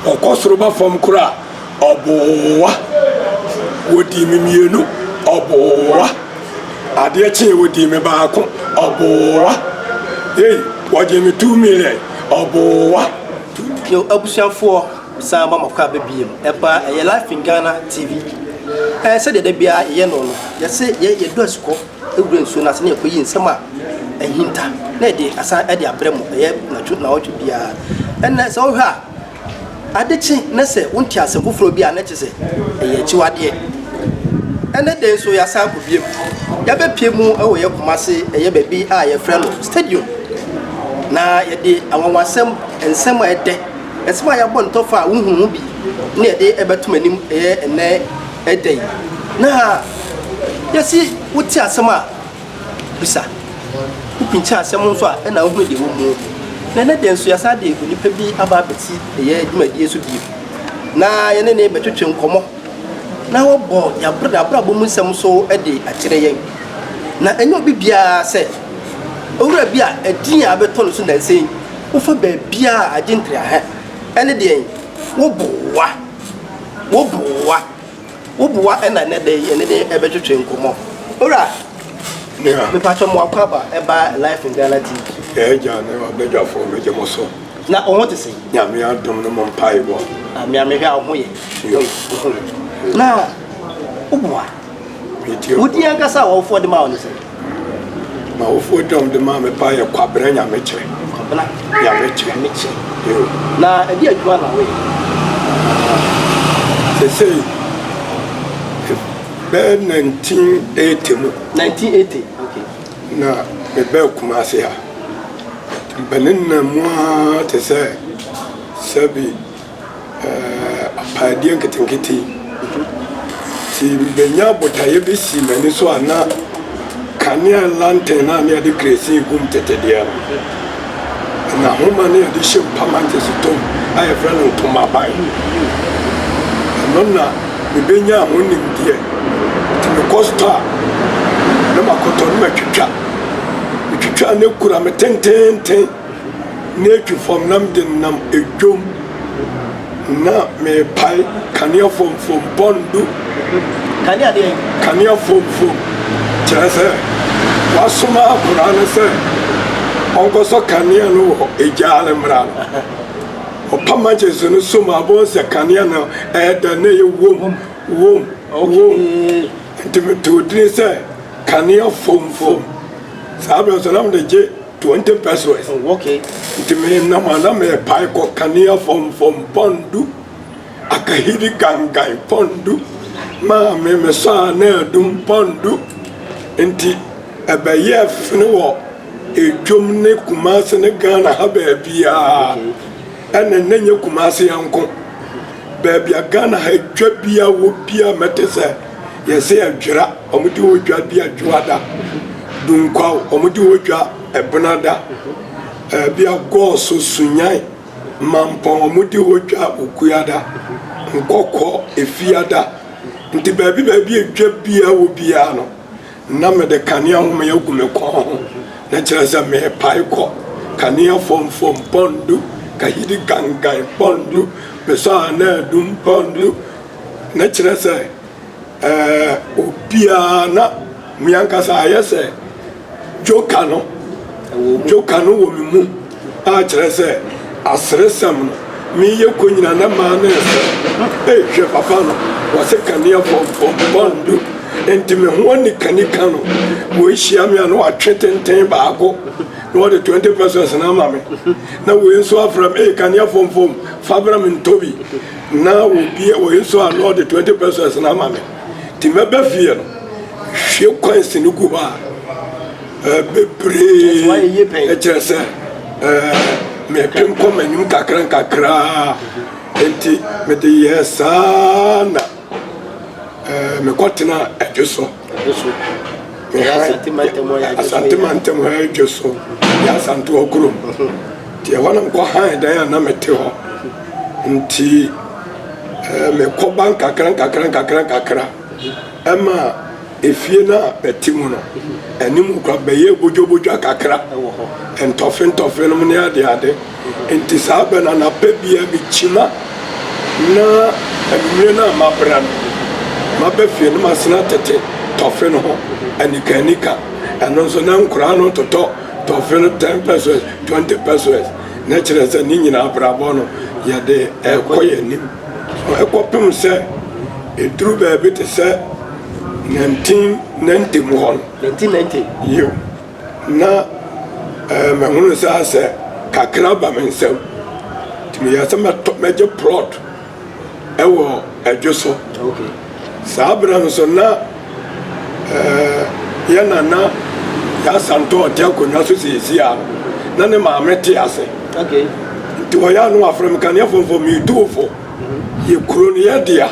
Ɔkɔ soro ba fam koraa ɔboa. Wɔdii me mmienu ɔboa. Adeɛ kyee wɔdii me baako ɔboa. Ei wɔgyee me two million ɔboa. Yo abusuafoɔ mesan aba mo kaaba biom ɛba ɛyɛ life in Ghana TV ɛɛ sɛdeɛ dabiara yɛyɛ no no yɛse yɛ yɛdɔ asukɔ. Wura nsuo no ase na yɛkɔyi nsɛm a ahinta na yɛde asan de abrɛ mo. Ɛyɛ natwo naawɔtwe biara. Ɛnna sɛ wohwɛ a, ade kye na sɛ wonte asɛm foforɔ bi a, na kyerɛ sɛ ɛyɛ akyiwadeɛ. Ɛnɛ da yi nso yɛasan akɔ biam. Yɛabɛpie mu wɔ yɛ koma ase, ɛyɛ baabi a yɛfrɛ no stadium. Na yɛde anwanwasɛm, nsɛm a ɛdɛ, nsɛm a yɛabɔ ntɔfa a wohunu ho bi na yɛde ɛbɛtom anim ɛyɛ ɛnɛ Ɛdɛn? Na yɛsi wote asɛm a, bisa. Wopinkyɛn asɛm nso a, ɛna wohunu deɛ wɔmu. Na ɛnɛ deɛ nso yɛasa de onipa bi aba abɛti ɛyɛ dwumadie so bio. Na yɛne ne bɛtwetwe nkɔmmɔ. Na wɔbɔ yɛabrɛ abrabɔ mu nsɛm so de akyerɛ yɛn. Na ɛnyɛ obi biara sɛ owura bi a ɛdin a abɛtɔ no so nansa yi wofa baabiara agye ntraha ɛne deɛn woboa. Wo boa, wo boa na ɛnɛ da yi yɛne ne ɛbɛtwetwe nkɔmmɔ. Owura, yeah. mepatwɛ mo akɔ aba ɛba Life in Ghana TV. Ɛyɛ gya ne ɔbɛdwafoɔ megye mo so. Na wo ho te se? Nyame adom no mo mpaebɔ. Ame amehwɛ a wo ho yɛ. Na wo boa. Wodin ankasa a w'awofoɔ de maa wo ne sɛn? M'awofoɔ din a wɔde maa me paa yɛ Kwabena Nyamekyerɛ. Kwabena. Nyamekyerɛ. Nyamekyerɛ. Yoo. Na ɛde adwuma na woyɛ? Sesei, bɛyɛ 1980 mu. 1980, okay. Na mebɛɛ Kumase ha. Bɛnenam mu ara te sɛ sɛbi. apaadeɛ nketenkete nti mebɛnya botaeɛ bi si m'ani so a na kanea lantern a ne yɛde kerɛsin gu mu tete deɛ no na homa ne yɛde hyɛ mu pamankyɛs tom a yɛfrɛ no ntomaban ɛno na mebɛnya ho nimdeɛ nti mekɔ stɔ a na makɔtɔ no matwitwa metwitwa ne kura me tententen na etu fam na mede no nam dwom na merepae kanea fomfom bɔndo. Kanea deɛ? Kanea fomfom kyerɛ sɛ wasoma akora no sɛ ɔnkɔsɔ kanea no wɔ egyaa no mmara no. Ɔpam akyɛnso no som a bɔn sɛ kanea no ɛyɛ dɛ na ɛyɛ wom wom wom nti metoo dini sɛ kanea fomfom saa bɛn so na mede gye Twenty pesos. Oh, okay. Nti menam a na merepae kɔ kanea fɔmfɔm pɔn du, akahiri gangan pɔn du, maame mesɔ a na adum pɔn du. Nti ɛbɛyɛɛ fene wɔ edwom ne Kumase ne Ghana ha baabiara. Ɛna na nyɛ Kumase nko. Baabi a Ghana ha dwa bi a wɔ bi a mɛte sɛ. Yɛse adwera, ɔmo de odwa di adwoa da. Dunkwaw, ɔmo de odwa ɛbena da. Ɛɛ bia gɔɔso, sunyan, mampɔn, ɔmo de odwa okua da. Nkɔkɔ, efia da. Nti baabi baabi a edwa biaa wɔ biaa no, Ná mede kanea homee agu me kɔn ho, na kyerɛ sɛ merepae kɔ. Kanea fomfom pɔn du, kahidi gangan pɔn du, mesɔ anaadum pɔn du, na kyerɛ sɛ ɛɛ obiara na me ankasa ayɛ sɛ joker no. Joker no wɔ me mu. a kyerɛ sɛ aseresɛm no meyɛ kɔ nyina na maa no nsɛ ei hwɛ papa no wɔse kanea pɔmpɔm bɔndo nti me ho ani kanika no wei hyia me a na watwe tenten baako na wɔde 20 pesos na ama me na wei nso afra me ei kanea pɔmpɔm fa bra me ntɔ bi na obi wei nso a na ɔde 20 pesos na ama me nti mɛbɛ fie no hwie kwan si no gu hɔ a bebree kyerɛ sɛ mepem kɔ m'anim kakra nkakra nti mede yɛɛ saa na mekɔtena adwo so asante mantam ha adwo so yɛ asantewa kurom nti ɛhɔ na mekɔ han dan a na mete hɔ nti mekɔba nkakra nkakra nkakra nkakra Ɛma efie no a bɛte mu no anim kora bɛyɛ bodwobodwa kakra, ntɔfentɔfe nom ne adeade. Enti saa bɛ no anapa biara mekyima na anwummere no a mabra no, maba fie no masena tete tɔfe no ho anikaanika. Ɛno nso na nkoraa no totɔ tɔfe no ten pesewas, twenty pesewas. Na kyerɛ sɛ ne nyinaa abrabɔ no yɛde rekɔ yɛn anim. So ɛkɔpem sɛ ɛduru baabi te sɛ 1990 mu hɔ no? 1990? Yiw. Na eh, mehunu saa sɛ kakra ba me nsam. Nti meyɛ sɛ mɛtɔ mɛgye plot ɛwɔ adwo so. Okay. Saa berɛ no so na Ɛɛ, yɛn na na yɛasan tɔ ɔte akonnwa so seesei a na ne maame te ase. Okay. Nti wɔyɛ ano afrɛ me kanea fomfo metuufo. Mm-hmm. Yɛ kuro no yɛ dea.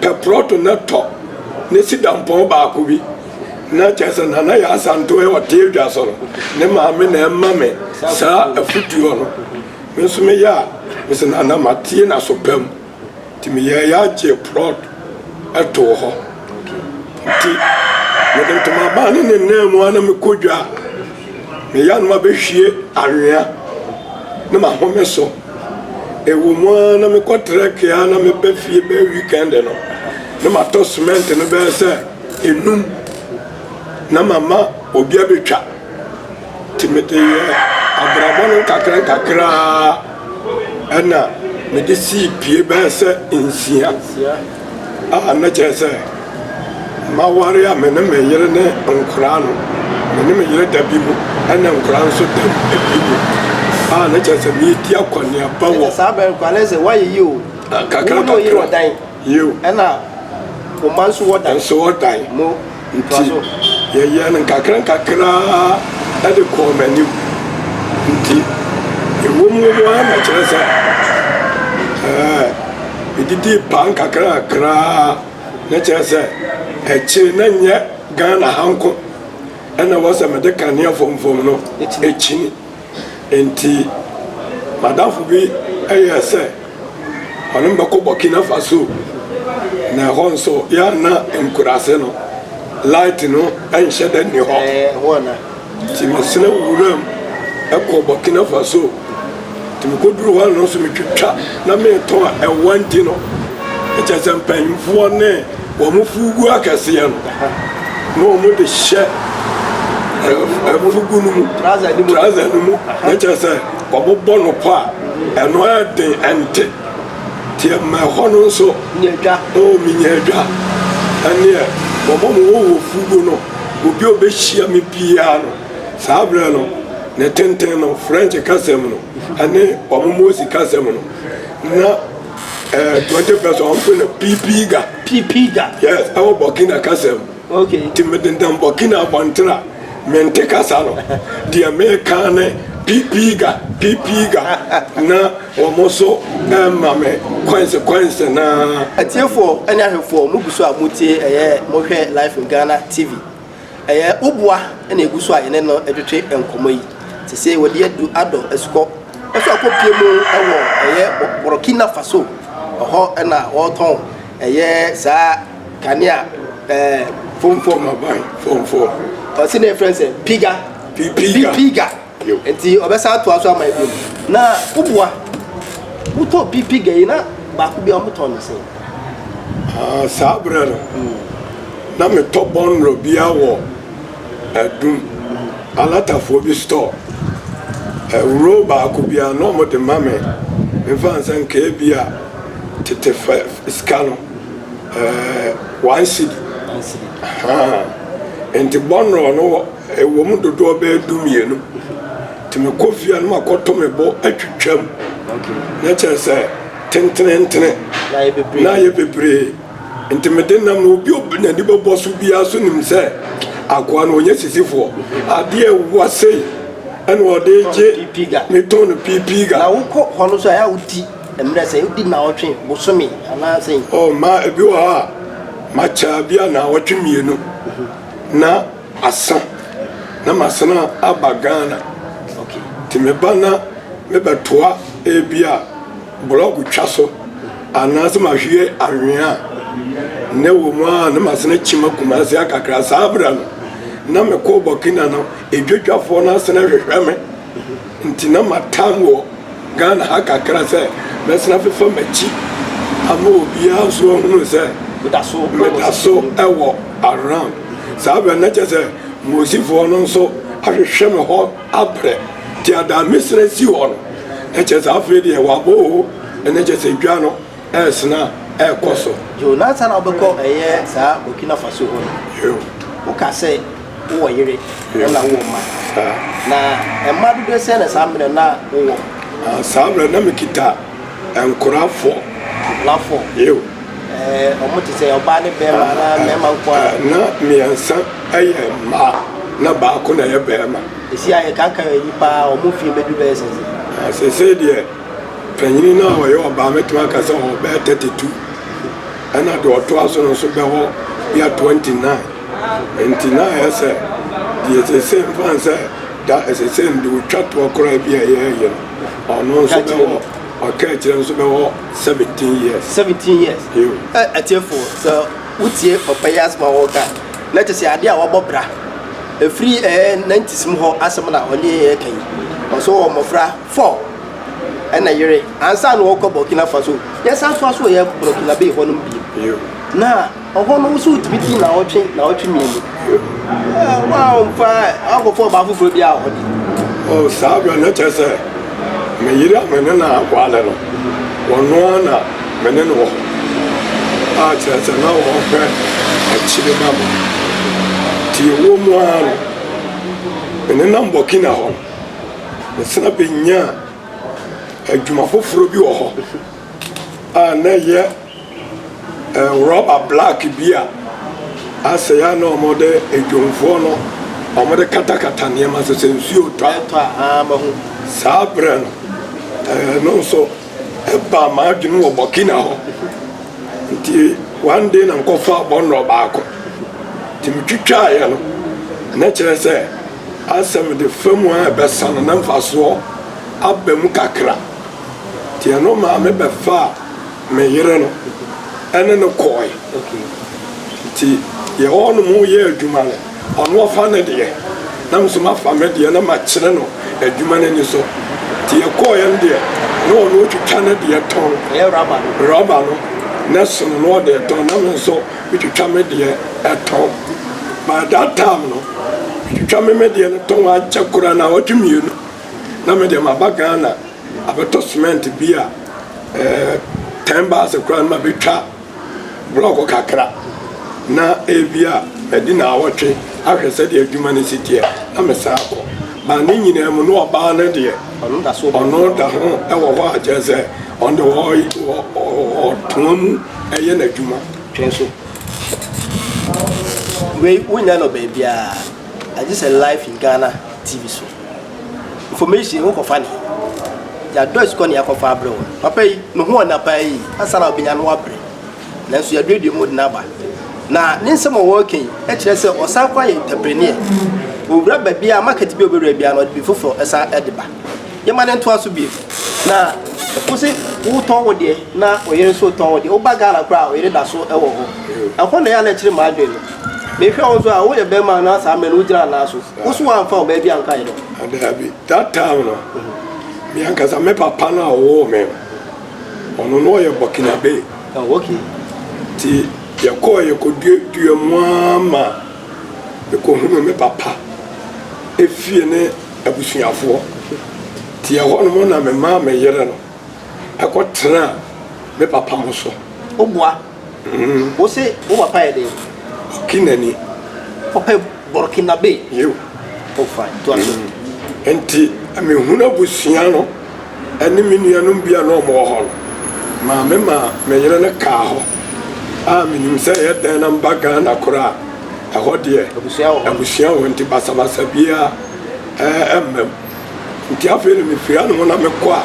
Pɛ prɔto na tɔ ne si dampɔn baako bi. Na kyerɛ sɛ nana yɛ asanto yɛ ɔte adwa so no. Ne maame na ɛma me saa afutuo no. Me nso meyɛ a, me sɛ nana matie na so pam. Nti meyɛɛ ya gyee prɔt too hɔ. Nti mede ntoma baa ne ne nan mu a na mekɔ dwa a, me yanom abɛhwie anwea ne mahome so. Ɛwɔ mu a na mekɔ trɛke a na meba fie bɛyɛ weekend no na matɔ cement no bɛyɛ sɛ enum na mama obi abɛtwa. Nti mede yɛɛ abrabɔ no nkakrankakra ara na mede sii pie bɛyɛ sɛ nsia a na kyerɛ sɛ maware a me ne me yere ne nkoraa no me ne me yere da bi mu ɛna nkoraa nso da bi mu a na kyerɛ sɛ meredi akɔneaba wɔ saa bɛn koraa na sɛ woayɛ yi o kakra kakra yio ɛna wo ma nso wɔdan nso wɔdan mo Nti yɛyɛɛ no nkakrankakra ara de kɔɔ m'anim. Nti ɛwom wom ara na kyerɛ sɛ ɛɛ medidii paa nkakrankakra ara na kyerɛ sɛ akyire na nyɛ Ghana ha nko ɛna ɛwɔ sɛ mede kanea fɔmfɔm no akyini. Enti m'adamfo bi yɛɛ sɛ ɔne me bɛkɔ Burkina Faso, na ɛhɔ nso yɛanna nkuraase no, light no nhyɛ da nni hɔ. Nti mesena wuram kɔ Burkina Faso. Nti mekoduru hɔ no nso metwitwa na metɔn ɛwa nti no, ɛkyɛ sɛ mpanyimfoɔ ne Wɔfuw gu akɛseɛ no, na wɔde hyɛ afugu no mu, trouser no mu, na kyerɛ sɛ wɔbobɔ no pɔ a, ɛno ayɛ den, ɛnte. Nti ɛma ɛhɔ no nso, oo, menya adwa. Ɛnneɛ, wɔma mo hɔ wɔ fugu no, obi a ɔbɛhyia me biara no, saa berɛ no, ne tenten no, French kasa mu no, ɛne wɔn Morse kasa mu no, na. Ɛɛ twenty percent ɔn pe na piipii ga. Piipii ga. Yes ɛwɔ Burkina kasa mu. Okay. Ti mi dendan Burkina abɔnten a mi nte kasa no deɛ mi ka ne piipii ga piipii ga na wɔn nso ɛma mi coins coins naa. Atiefoɔ ɛne ahwɛfoɔ mo gu so a mo tie ɛyɛ mo hwɛ live in Ghana TV Ɛyɛ wo boa na egu so a yɛne no twetwe nkɔmmɔ yi. Sesei wɔde adu adɔ asukɔ so akɔ pie mu wɔ ɛyɛ Borkina Faso. Ɛhɔ na wɔtɔn ɛyɛ saa kanea ɛɛ. Fomfom aban fomfom. Ɔsi na efrɛ no sɛ piga. Piga. Piga. Nti ɔbɛsan atoa so ama ebi mu. Na woboa. Wotɔ pipi gɛyi na baako bi a wɔtɔ no sɛn? Ah, saa berɛ no, na metɔ bɔnnɔ bi wɔ Adum, alatafoɔ bi store. Ɛwuro baako bi a na wɔde ma me, memfa nsɛ nka ebi a tete fɛ sika no, eh, one cedi. One cedi. Ahaa. Nti bɔnnɔ no wɔ. Ɛwom dodoɔ bɛyɛ du mmienu nti me kɔ fie a na ma kɔ to me bo atwitwa mu na kyerɛ sɛ tentenentene na ayɛ bebree nti me de nam na obi obi na ni bɛ bɔ so biara so nim sɛ akoa no ɔnyɛ sisifoɔ adeɛ ɛwa sei ɛna ɔde gye me tɔn no piipii ga. Na wokɔ hɔ no so a ɛyɛ wodi mmerɛ sɛ wodi naawɔtwe bosome anaa sɛn. Oh ma ebi wɔ hɔ a ma kyɛ bi a naawɔtwe mmienu na. Asa na masan aba Ghana nti meba na mebɛtoa ebi a blɔg twa so anaasɛ mahwie anwea a na ɛwɔ mu a na masan akyim Kumasi akakra. Saa berɛ no na mekɔɔ Burkina no, edwadwafoɔ no asan ahwehwɛ me. Nti na matam wɔ Ghana ha kakra sɛ mɛsan afefa m'akyi ama obiara nso ahunu sɛ meda so wɔ around. Saa berɛ no na kyerɛ sɛ Mosifoɔ no nso ahwehwɛ me hɔ abrɛ. Nti Adamesrɛ si hɔ no, na kyerɛ sɛ afei deɛ wɔabɔ o, na kyerɛ sɛ dwa no. Ɛresena a, ɛrekɔ so. Yo, na ansa na wobɛkɔ ɛyɛ saa Burkina Faso hɔ no, Yo. woka sɛ wowɔ yere Yo. ɛna wowɔ mma. Saa. Na mma dodoɔ sɛn na saa mmerɛ no na wowɔ? Ah, saa mmerɛ na mekita nkora fɔ. Nkora fɔ? Yo. Ɛɛ, wɔn te sɛ ɔbaa ne bɛrima anaa mmarima nko ara? Ah, na mmiɛnsa yɛ mmaa na baako na ɛyɛ barima. Ɛsi a yɛkankan yɛn nnipa a wɔn mfeɛ bɛduru bɛyɛ sɛn sɛ? Ah, seesei deɛ. Panyin no a ɔyɛ ɔbaa mɛtumi aka sɛ ɔwɔ bɛyɛ 32 ɛna deɛ ɔtoa so no nso bɛwɔ bia 29 nti na ayɛ sɛ deɛ ɛsesei mfa sɛ da ɛsesei no deɛ ɔtwa toɔ koraa bi a ɛyɛ yɛ no ɔno nso bɛwɔ ɔka akyerɛ nso bɛwɔ 17 years 17 years atiefo sɛ wotie ɔpɛ yi asɛm a wɔka na kyɛ sɛ adeɛ a wɔbɔ bra ɛfiri ɛɛ 90s mu hɔ asɛm na ɔne yɛka yi ɔso wɔ mmɔfra Four, ɛna yere ansa na ɔkɔ Burkina Faso. Yɛsan soa so yɛ Burkina Bay hɔnom bio. Na ɔhɔ no nso wotumi di na ɔtwe na ɔtwe mmienu. Wɔamfa akɔfa ɔbaa foforɔ bi a ɔde. O saa berɛ no kyerɛ sɛ me yere a me ne na awale no, ɔno ara na me ne no wɔ hɔ. A kyerɛ sɛ na ɔhwɛ akyire ma me. Nti ɛwɔ mu ara no, me nenam Burkina hɔ no. Yɛsan benyaa adwuma foforo bi wɔ hɔ a na ɛyɛ rɔba black bi a asɛe a na wɔde adwumfoɔ no wɔde katakata nneɛma so sɛ nsuo tɔ a. Saa berɛ no, ɛno nso ɛbaa m'adwene wɔ Burkina hɔ. Nti one day na mekɔfaa bɔnnɔ baako. Nti metwitwaaeɛ no, na kyerɛ sɛ. Asɛm de fa mu a ɛbɛsa no na mfasoɔ aba mu kakra. Nti ɛno maa me bɛfaa me yere no ne no kɔɔe. Nti yɛwɔ hɔ nom yɛ adwuma no, ɔno ɔfa ne deɛ na me nso mafa me deɛ na makyerɛ no adwuma no ani so. Nti yɛkɔɔeɛ no deɛ na ɔno ɔtwitwa ne deɛ tɔn, rɔba no, na ɛsono na ɔde retɔn na me nso Metwitwa me deɛ ɛtɔn by that time no metwitwa me me deɛ no tɔn ankyɛ koraa na ɔgye mmienu na me deɛ maba Ghana abɛtɔ cement bi a ɛɛ ten baase koraa no ma bɛtwa blɔk kakra na ebi a ɛdi na awɔtwe ahwɛ sɛdeɛ adwuma no si teɛ na me san akɔ ba ne nyinaa mu na ɔbaa no deɛ ɔno da ho ɛwɔ hɔ a kyerɛ sɛ ɔno deɛ ɔtɔn mu. ɛyɛ n'adwuma. Twɛn so. Wei wo nya no baabiaa agye sɛ live in Ghana TV so. Information wo kɔfa ne. Yɛ dɔs kɔ ne yɛ kɔfa abrɛ wo. Papa yi no ho ɔna paa yi asana ɔbɛnya no abrɛ. Nanso yɛ duadua mu de no aba. Na ne nsɛm a wɔɔka yi ɛkyerɛ sɛ ɔsan kɔ ayɛ entrepreneur. Ɔwura baabiaa market bi a ɔbɛwura biaa no ɔde bi foforɔ ɛsan ɛde ba. Yɛma no ntoa so bio. Na wo se wotɔn wo deɛ na ɔyere nso retɔn wo deɛ. Woba Ghana koraa a, ɔyere da so wɔ hɔ. Ɛhɔ na ɛyɛ a na ɛkyere m'adwene no. Mehwɛ wo nso a, woyɛ barima na saa mmerɛ no wogyina anan so. Wo nso woamfa ɔbaa bi anka yɛn ho. Daabi. That time no, me ankasa me papa no a ɔwoo me no, ɔno na ɔyɛ Burkinabe. Oh, okay. Nti yɛkɔɔ yɛkɔduaduaa mu ara ma mekɔhunuu me papa efie ne. abusuafoɔ. Nti ɛhɔ nom na me maa me yere no kɔ tenaa me papa mo so. Wo boa? Mm. Wo se wo papa yɛ den? Ɔkenani. Ɔpɛ Burkinabe? Yiw. Oh fine, toa so. Mm. Nti me hunu abusua no ne me nuanom bi a na wɔn wɔ hɔ no, maa me maa me yere no kaa hɔ. A menim sɛ ɛyɛ dɛn na mba Ghana koraa. Ɛhɔ deɛ, abusua wɔ hɔ nti basabasa biara mma mu. Nti afei no mefiri ano hɔ na mekɔ a,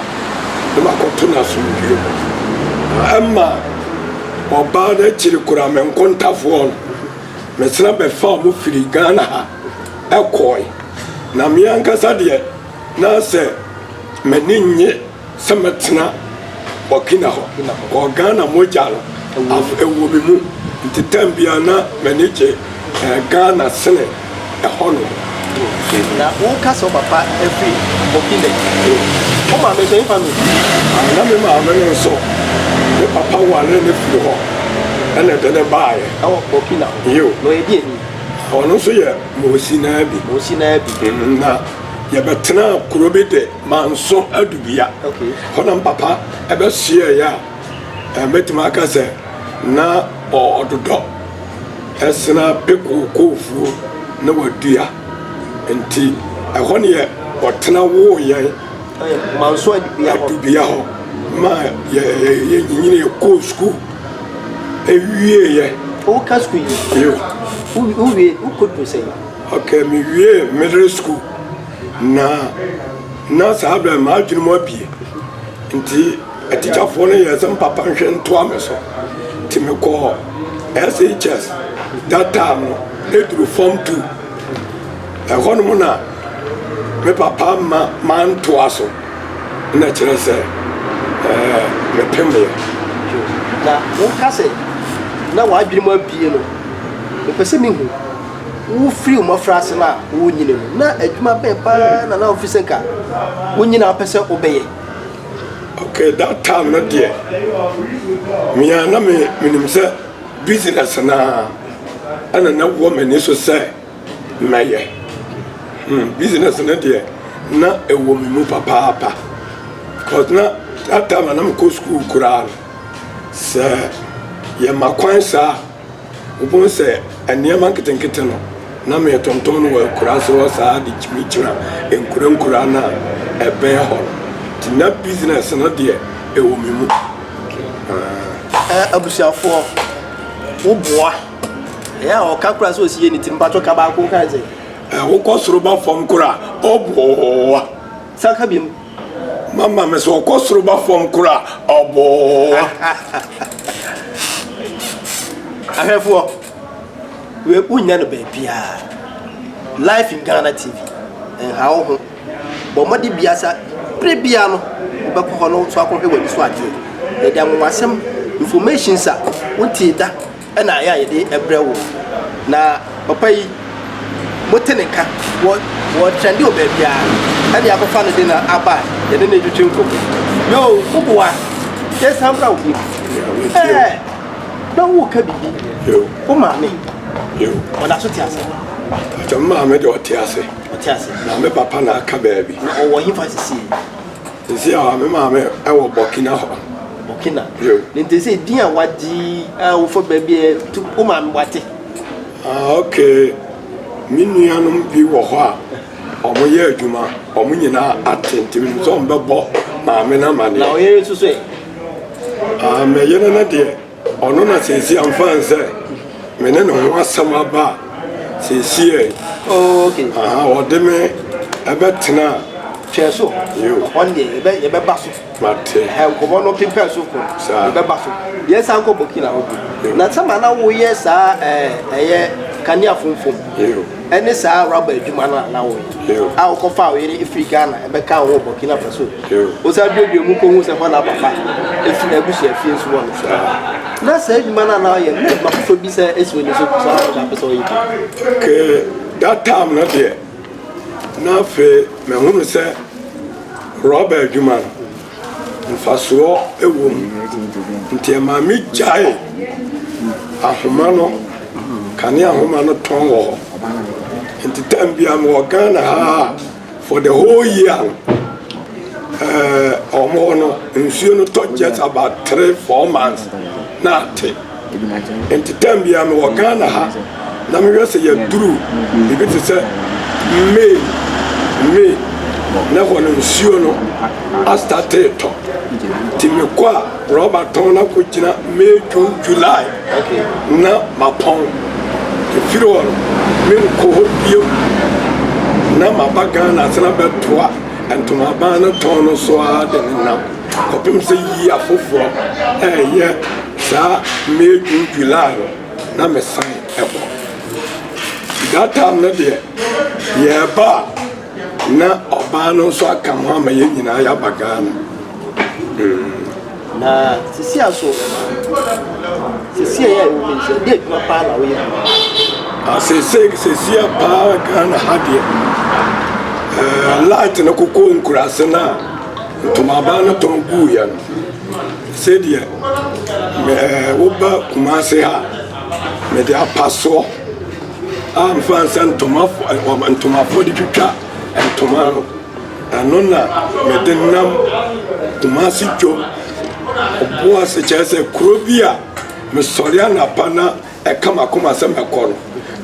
na makɔto no asomdwoeɛ mu. Na ɛma ɔbaa no akyiri koraa me nkontafoɔ no, mesena bɛfaa wɔn firi Ghana ha ɛkɔɔe. Na me ankasa deɛ, na sɛ m'ani nnye. Sɛ mɛtena Burkina hɔ, wɔ Ghana mogya no ɛwɔ me mu nti tɛm biara na m'ani gye Ghana sene ɛhɔ nom. Na wo ka sɛ wo papa firi Burkina yi, wo maame nso hefa na ɔfiri? Ah, na me maame no nso, me papa waree no firi hɔ ɛna ɛde no baeɛ. Ɛwɔ Burkina hɔ? Yio. Na ɔyɛ deɛ ni? Ɔno nso yɛ Mosinaa bi. Mosinaa bi. Na yɛbɛtenaa kuro bi de. Manso adu bea. Hɔ na me papa bɛhyeaeɛ a mɛtumi aka sɛ na ɔdodɔ sena pekoo koofuo na wadua. Nti ɛhɔ neɛ ɔtena woo yɛn. Manso adu bea hɔ. Adu bea hɔ ma yɛnyinii koo sukuu. Ɛwieɛ. Woka sukuu yi? Yoo. Wowie, wokɔduru sɛn? Ok, me wie middle school. Na na saa berɛ no m'adwene mu abue nti atikyafoɔ no yɛɛ sɛ mpapa nhwɛ ntoa me so nti mekɔɔ SHS that time no ɛduru fam tu ɛhɔnom na me papa ma mantoa so na kyerɛ sɛ ɛɛ mepemeɛ. Na woka sɛ na w'adwene mu abue no mepɛ sɛ mehu. Wofiri wo mmɔfraase no a worenyini no, na adwuma bɛn pa ara na na wofi sɛ nka wonyini a wopɛ sɛ wobɛyɛ? Okay, that time no deɛ, me a na me menim sɛ business no ara ɛna na wɔ m'ani so sɛ mɛyɛ. Hmm, business no deɛ na ɛwɔ me mu papaapa. Because na that time a na mekɔ school koraa no, sɛ yɛma kwan saa a, Wobohu sɛ nneɛma nketenkete no na meretontom no wɔ akuraase hɔ saa de kyinkyina nkurankuraa no a ɛbɛn hɔ no. Nti na business no deɛ ɛwɔ me mu. Ahh. Abusuafoɔ wo boa. Ɛyɛ a ɔka koraa sɛ ɔsi yɛ ne ti mpakyɛ ka baako nkae sɛ. Wokɔ soro ba fam koraa ɔboa. San ka biom. Mama me so ɔkɔ soro ba fam kora ɔboa. Ahwɛfoɔ, wei wonya no baabiara. Live in Ghana TV, nha wo ho. Bɔ mmɔde bia sa, bere bia no, wobɛkɔ hɔ no so akɔhwɛ w'ani so adeɛ. Yɛde anwonwasɛm, information sa, wotie da. na ɛyɛ a yɛde brɛ wo. Na papa yi mote ne nka wɔ wɔ trɛnde wɔ baabiara ɛne akɔfa no de na aba a yɛde ne twetwe nkɔmmɔ. Yoo woboa yɛsan mbra wo bio ɛɛ na woka biribi wo maame ɔda so te ase. Mpakyɛ me maame deɛ ɔte ase. Ɔte ase. Na me papa na aka baabi. Na ɔwɔ hefa sisi yi. Sisi a me maame ɛwɔ Burkina hɔ. Burkina. Yeah. Nti sɛ din a wagye a wofa baabi a tu wo maame wate. Ah okay. Me nuanom bi wɔ hɔ a wɔn yɛ adwuma wɔn nyinaa ate nti mi sɛ wɔn bɛbɔ maame na ma ne. Na ɔyere nso so ɛ. Ah mɛ yere no deɛ. Ɔno na seesie anfa nsɛ me ne ne ho asɛm aba a seesie ɛ. Oh, okay. Aha, ɔde me ɛbɛ tena. Twɛ so. Yo. Ɔn deɛ yɛbɛ yɛbɛ ba so. Mate. Ɛhɛ nkɔmɔ no pepɛ so kɔ. Saa. Yɛbɛ ba so. Yɛn san kɔ Burkina hɔ bi. Na sɛ ma na wo yɛ saa ɛɛ ɛyɛ kanea funfun. Yo. ne saa rɔba adwuma no a na woyɛ a wokɔfaa wo yere firi ghana ɛbɛka wo wɔ burkina faso wosa duadua mu kɔhu sɛ hɔ na papa ɛfiri abusua fie nso wɔ no so na saa adwuma no a na woyɛ na adwuma foforɔ bi sɛ ɛsi w'ani so saa na wopɛ sɛ woyɛ ke that time no deɛ na afei mahunu sɛ rɔba adwuma no mfasoɔ wɔ mu nti ɛmaa me gyae ahoma no kane ahoma no tɔn wɔ hɔ nti tam bia mewɔ ghana ha for the whole year ɔmo hɔ no nsuo no tɔ just about three four months na ate Nti term biara mewɔ Ghana ha na mehwɛ sɛ yɛduru biribi te sɛ May, May na hɔ no nsuo no astate tɔ. Nti mekɔ a rɔba tɔn na kɔgyina May, June, July na mapɔn. Ɛfiri hɔ no menkɔ hɔ bio na maba Ghana ase na bɛtoa ntomaban no tɔn no so ara de nenam. kɔpem sɛ yiyi afoforɔ ɛɛyɛ saa May June July hɔ na me san ɛkɔ that time no deɛ yɛɛba a na ɔbaa no nso aka ho ama yɛn nyinaa yɛaba Ghana mm. na sisi aso sisi ɛyɛ ɛwɔ mi nsɛ de adwuma paa na woyɛ asese ah, sisi apaa Ghana ha deɛ ɛɛ eh, light no koko nkurase no a Ntomaban no tɔn guiɛ no sɛdeɛ me ɛɛ woba Kumasi ha mede apasoɔ a mefa nsɛ ntoma ntomafoɔ de twitwa ntoma no ɛno na mede nam Kumasi dwom ɔboase kyerɛ sɛ kuro bi a mesɔre anapa na ɛka makoma sɛ mɛkɔ no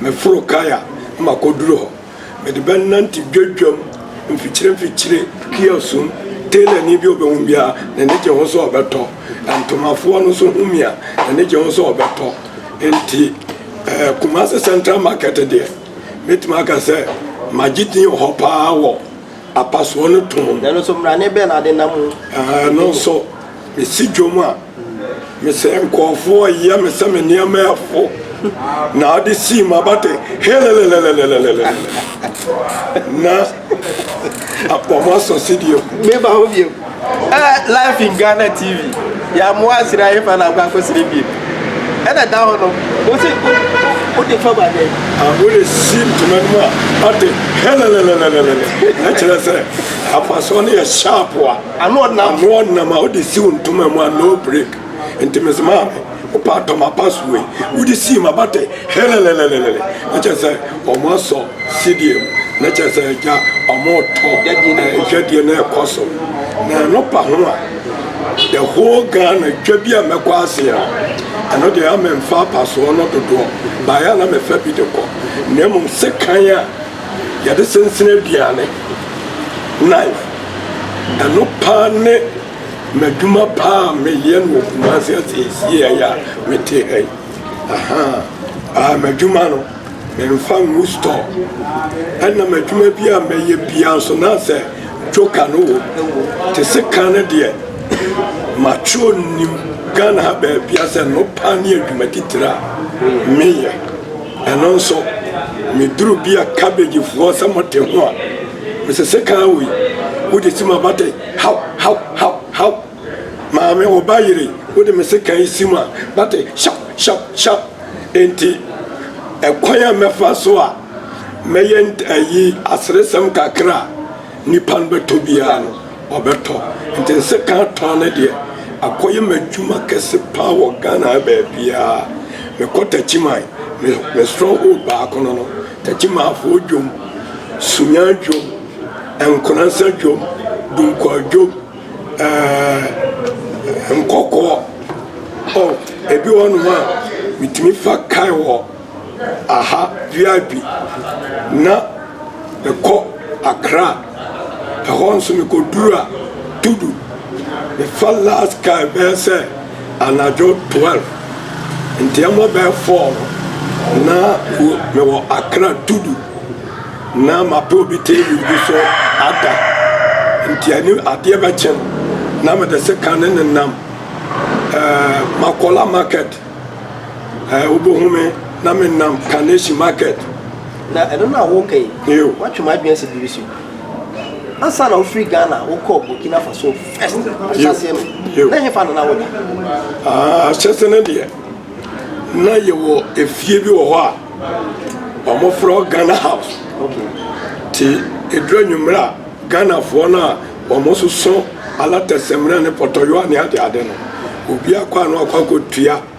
meforo kaya makɔduru hɔ. Mede bɛnante dwadwam mfikyire mfikyire, Kio sum, Tailorni bi a ɔbɛhu biara, n'ani gye ho sɛ ɔbɛtɔ, Ntomafoɔ no nso hu me a, n'ani gye ho sɛ ɔbɛtɔ. Enti eh, Kumasi Central Market deɛ, mɛtumi aka sɛ magye din wɔ hɔ paa wɔ apasoɔ no tɔn mu. Ɛno nso, mmrane bɛn na ade nam mu? Ɛno nso, Mesi dwom a, mesɛ nkurɔfoɔ reyɛ me sɛ me nneɛma yɛ fo na ɔde sii m'abaten helelelelelelelele na wɔn asɔ sedie mu. Meba hɔ bio. Ɛna life in Ghana TV yɛamoa asiri ahefa na akɔ akɔsiri bio. Ɛna da hɔ no wosi wode fa ba dɛn. Wode si ntoma no mu a ɔte helelelelelele na kyerɛ sɛ afasoɔ no yɛ sharp a. Ano ɔde na mmoa ɔdenam a wode siw ntoma mu a no break nti mese maame wopɛ a tɔ m'apaso wei wode sii m'aba te helelelelele na kyerɛ sɛ ɔmo asɔ sidie mu na kyerɛ sɛ agya ɔmo tɔ adwadie na ɛkɔ so na ɛno pa ho a the whole Ghana dwa bi a mɛkɔ ase a ɛno deɛ ama mfa apasoɔ no dodoɔ baeɛ a na mefa bi de kɔ na mmom sekan a yɛde sensene aduane knife Ɛno paa ne m'adwuma paa a meyɛ no wɔ Kumasi ha seesei a yɛ a mete ha yi. Aha, ah, m'adwuma no, memfa ngu store. Ɛna m'adwuma bi a mɛyɛ biara nso na sɛ joker no wɔ mu. Te se kan no deɛ, mature nim Ghana ha baabia sɛ no paa ne adwuma titire a meyɛ. Ɛno nso, meduru bi a cabbagefoɔ sɛ mote ho a, Mesɛ sɛ kaa woi wode si ma bata yi haw haw haw haw Maame wo ba yere wode me sekaa yi si ma bata yi shaw shaw shaw Enti ɛkwan a mɛfa so a mɛyɛ ayi aseresɛm kakra a nipa no bɛtɔ biara no ɔbɛtɔ Nti nsekaa tɔn no deɛ akɔyɛ m'adwuma kɛse paa wɔ Ghana ha baabiara Mekɔ Takyiman me stronghold baako no no Takyimafoɔ dwom, Sunya dwom, Nkonansa dwom, Dunkwaa dwom, ɛɛɛ Nkɔkɔɔ. Oh, ebi wɔ hɔnom a metumi fa kae wɔ aha VIP na mekɔ Accra. Ɛhɔ nso mekɔduru a, Tudu, mefa last kae bɛyɛ sɛ. Anadwo twelve, nteɛmɔ bɛyɛ four no, na mewɔ Accra Tudu, na mapɛ obi table bi so ada. Nti ani adeɛ bɛkye no, na mede sika ne ne nam ɛɛ Makola market ɛɛ wobɛhu me na me nam Carnation market. Na ɛno no a woka yi, woatwe m'adwene asi biribi so. Ansa na wofiri Ghana wokɔɔ Burkina Faso, ahyɛse no deɛ na yɛwɔ efie bi wɔ hɔ a wɔmofrɛ ghana house nti ɛduru anwummerɛ a ghanafoɔ no a wɔsoso alatɛsɛmmerɛ ne pɔtɔyowa ne adeade no obiaa kɔ a na wakɔ akɔtua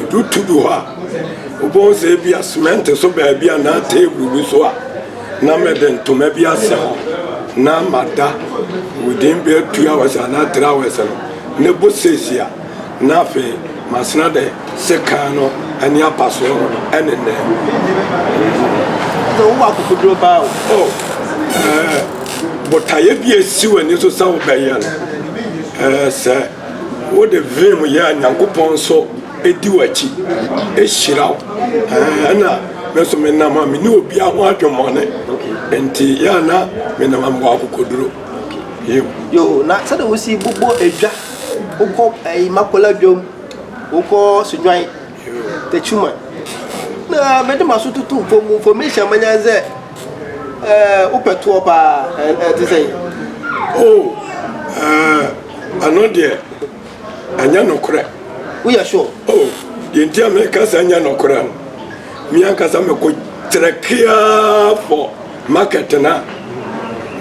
Edu tu bi hɔ a, wobɛhu sɛ ebia semɛnte so baabi anaa teebol bi so a, na mede ntoma bi asɛ hɔ na mada within bɛyɛ two hours anaa three hours no ne bo seesi a na afei masena dɛ sekan no ne apasoɔ no ɛne nnɛ. Wowɔ akokoduro baa o. Oh, ɛɛ botaeɛ bi a esi w'ani so sɛ wobɛyɛ no ɛɛ sɛ Wode vim yɛ a Nyankopɔn nso di w'akyi hyira wo. Ɛna me nso menam a mene obia ho adwemmɔne. Nti yɛ a na menam a mewɔ akokoduro. Yeo. Yoo na sɛdeɛ wosi bobɔ edwa wokɔ ɛyi makola dwom wokɔ sodwan. Techuman. Na mede m'aso tutu fam information manya ne sɛ ɛɛ wopɛ toɔ paa ɛte sɛ. Oh ɛɛ ɛno deɛ ɛnyɛ nokorɛ. Woyɛ sure? Oh deɛ nti a meka sɛ ɛnyɛ nokorɛ no me ankasa mekɔ kyerɛ keaa for. Market no a,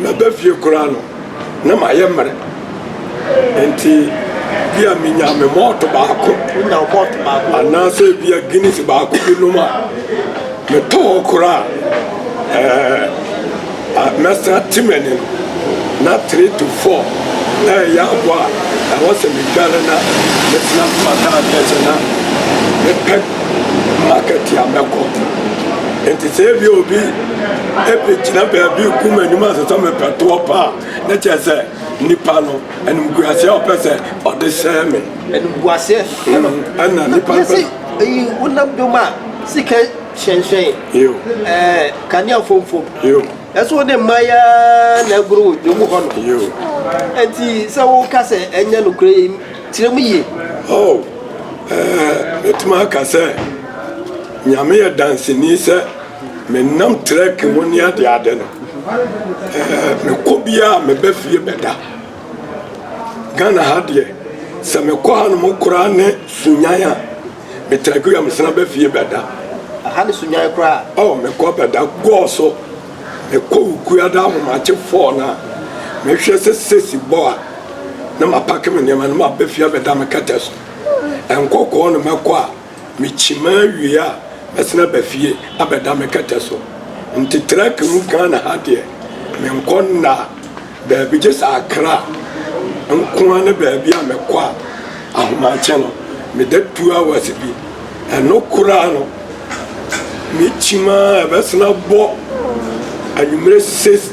maba fie koraa no, na mayɛ mmerɛ. Nti, bi a menya me malt baako. Wonya wo malt baako. Anaasɛ bi a Guinness baako bi nom a, metɔ hɔ koraa. Ɛɛ, mɛsa te m'ani no. Na three to four ɛyɛ aboa a, ɛwɔ sɛ medware na metena m'ataadeɛ sɛ na mepɛ market a mɛkɔ. Nti sɛ ebi obi Ebegyina baabi rekum anim asosɔ me pɛtoɔ pa a, na kyerɛ sɛ nipa no animguaseɛ a ɔpɛ sɛ ɔde hyɛ me. Animguaseɛ. Ɛna nipa no pɛ. Eyi wonam dom a sika hyɛnhyɛn. Yo. Ɛɛ kanea fomfom. Yo. Ɛso wode mma ya na agoro wo dwom hɔ no. Yo. Enti sɛ woka sɛ ɛnyɛ nokorɛ yi kyerɛ mu yie. Oh, ɛɛ metumi aka sɛ nyame yɛ danseni sɛ. Me nam trek ho ne ade ade no me kɔ bia me ba fie bɛda Ghana ha deɛ sɛ me kɔ ha no mo koraa ne sunyan a me trek wia me sena ba fie bɛda aha ne sunyan koraa oh me kɔ bɛda gɔɔ so me kɔ wukua da ahomakye fɔɔ na me hwɛ sɛ sesi bɔ a ne ma pake me nneɛma ne ma bɛ fie bɛda me kɛtɛ so ɛnkɔkɔɔ no mɛkɔ a Mekyimaa wie a mɛsan aba fie abɛda me kɛtɛ so. Nti trɛk mu Ghana ha deɛ menkɔ nna baabi gye sɛ Accra nkoa ne baabi a mɛkɔ a ahomakye no meda two hours bi. Ɛno koraa no mekyimaa a ɛbɛsan abɔ anwumerɛ six.